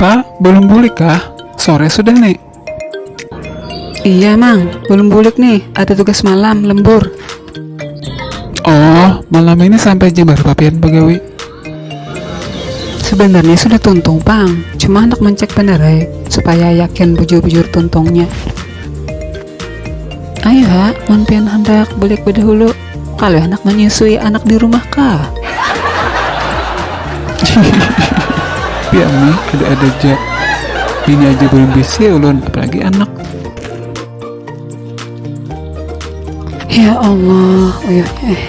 Pa, belum bulik kah? Sore sudah nek. Iya mang, belum bulik nih, ada tugas malam, lembur. Oh, malam ini sampai jam berapa pian bagawi? Sebenarnya sudah tuntung pang, cuma hendak mencek benerai supaya yakin bujur-bujur tuntungnya. Ayu ha, mun pian handak bulik badahulu, kalu handak manyusui anak di rumah kah? pian ni ada-ada ja, bini aja balum bisi ulun apalagi anak. Ya Allah, uyuhnya eh.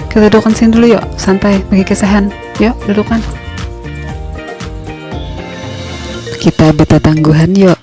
Kita dudukan sini dulu yuk, santai, bagi kisahan. Yuk, dudukan. Kita beta tangguhan yuk.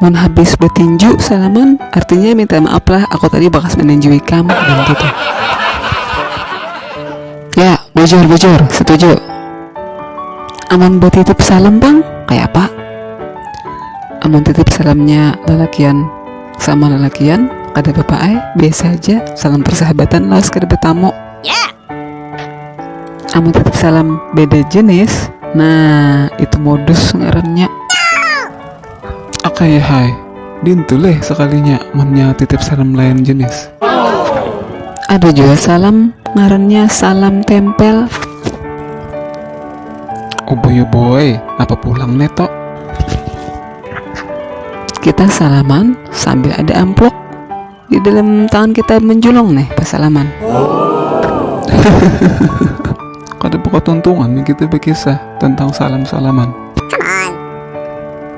mun habis batinju salaman artinya minta maaf lah aku tadi bakas maninju ikam bilang gitu ya bujur bujur setuju amun batitip salam pang kaya apa amun titip salamnya lalakian sama lalakian kada apa-apa ai biasa aja salam persahabatan lawas kada betamu yeah. amun titip salam beda jenis nah itu modus ngarannya Akaya hai, dintu leh sakalinya munnya titip salam lain jenis. Ada jua salam ngarannya salam tempel. Ubuy ubuy, napa pulang ne tok. Kita salaman sambil ada ampluk. di dalam tangan kita menjulung nih pas salaman oh. kada buka tuntungan nih kita berkisah tentang salam salaman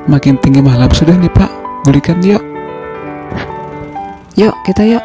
makin tinggi malam sudah nih pak berikan yuk yuk kita yuk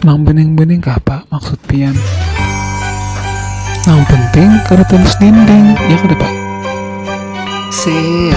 Nang bening-bening kapa maksud pian? Nang penting kada tembus dinding, ya kada Pak? Sip.